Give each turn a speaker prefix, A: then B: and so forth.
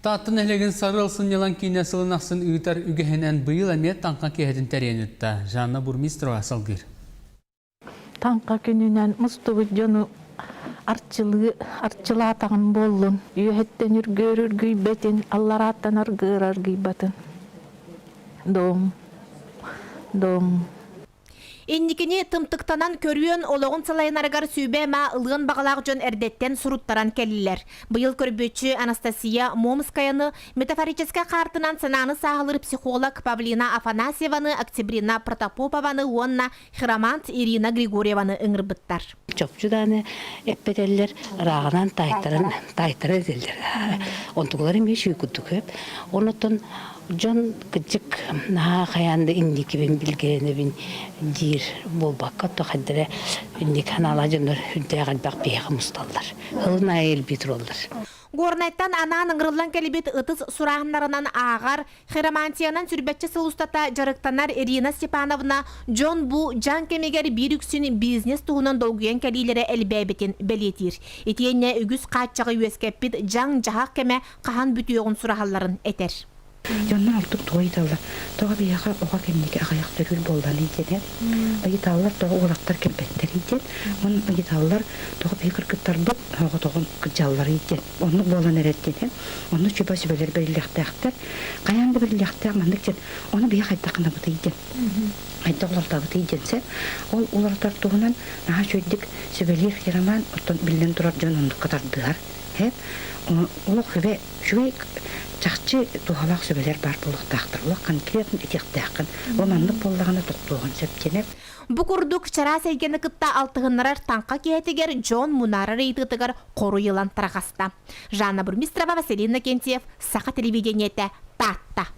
A: Таатта нэһилиэгин Сары ылсын Ньылан киинэ сылын ахсын ыытар үгэһинэн быйыл эмиэ таҥха киэһэтин тэрийэн ыытта. Жанна Бурмистрова салгыыр. Таҥха күнүнэн мустубут дьону арчылыы арчылаатаҕым буоллун, үөһэттэн үргүөрүргүйбэтин, алларааттан аргыыраргыйбатын. Дом, дом. Инникини тымтыктанан көрүөн олоҕун салайынарыгар сүүбэ-ма ылыан баҕалаах дьон эрдэттэн суруттаран кэллилэр. Быйыл көрбүччү Анастасия Момскаяны метафорическай хаартынан санааны сааһылыыр психолог Павлина Афанасьеваны, Октябрина Протопопованы уонна хиромант Ирина Григорьеваны ыҥырбыттар. чопчу дааны эппэтэллэр рааҕынан тайтаран тайтара этэллэр онтукулар эмиэ үчүгэй курдук көп онотон дьон кырдьык наһаа хайаан да инникибин билгэнэбин диир буолбакка то хайдара инник анаала дьоннор үрдээх элбэх биһиэхэ мусталлар хылын айы элбии тураллар горнайтан анаан ыҥырыллан кэлбит ытыс сурааһыннарынан ааҕар Хиромантиянан сүрбэччэ сыл устата дьарыктанар Ирина Степановна дьон-бу дьаҥ кэмигэр биир үксүн бизнес туһунан долгуйан кэлиилэрэ элбээбитин бэлиэтиир. Итиэннэ үгүс хааччаҕы үөскэппит дьаҥ-дьаһах кэмэ хаһан бүтүөҕүн сураһалларын этэр. Дьоннор ордук тугу ыйыталлар, тоҕо биһиэхэ оҕо кэнники аҕыйах төрүүр буолланый диэн эр ыйыталлар, тоҕо уолаттар кэлбэттэрий диэн, мин ыйыталлар, тоҕо биһиги кыргыттарбыт соҕотоҕун кырдьалларый диэн. Оннук буолан эрэр диэни онно чуба сүбэлэр бэриллиэхтээхтэр. Хайаан да бэриллиэхтээх маннык диэн ону биһи хайдах гынабытый диэн хайдах уларытабытый диэн сөп. Ол уларытар туһунан наһаа үчүгэйдик сүбэлиир Хироман оттон биллэн турар дьон оннукка тардыһар. Олох сүбэ үчүгэй чахчы туһалаах сүбэлэр баар буолуохтаахтар. Олох конкретно этиэхтээххин. Ол маннык буоллаҕына тохтуоҕун сөп диэнэр. Бу курдук чараас эйгэни кытта алтыһыннарар таҥха киһитигэр дьон мунаарар ыйытыытыгар хоруй ылан тарҕаста. Жанна Бурмистрова, Василина Кентьев, Саха телевидениетэ, Таатта.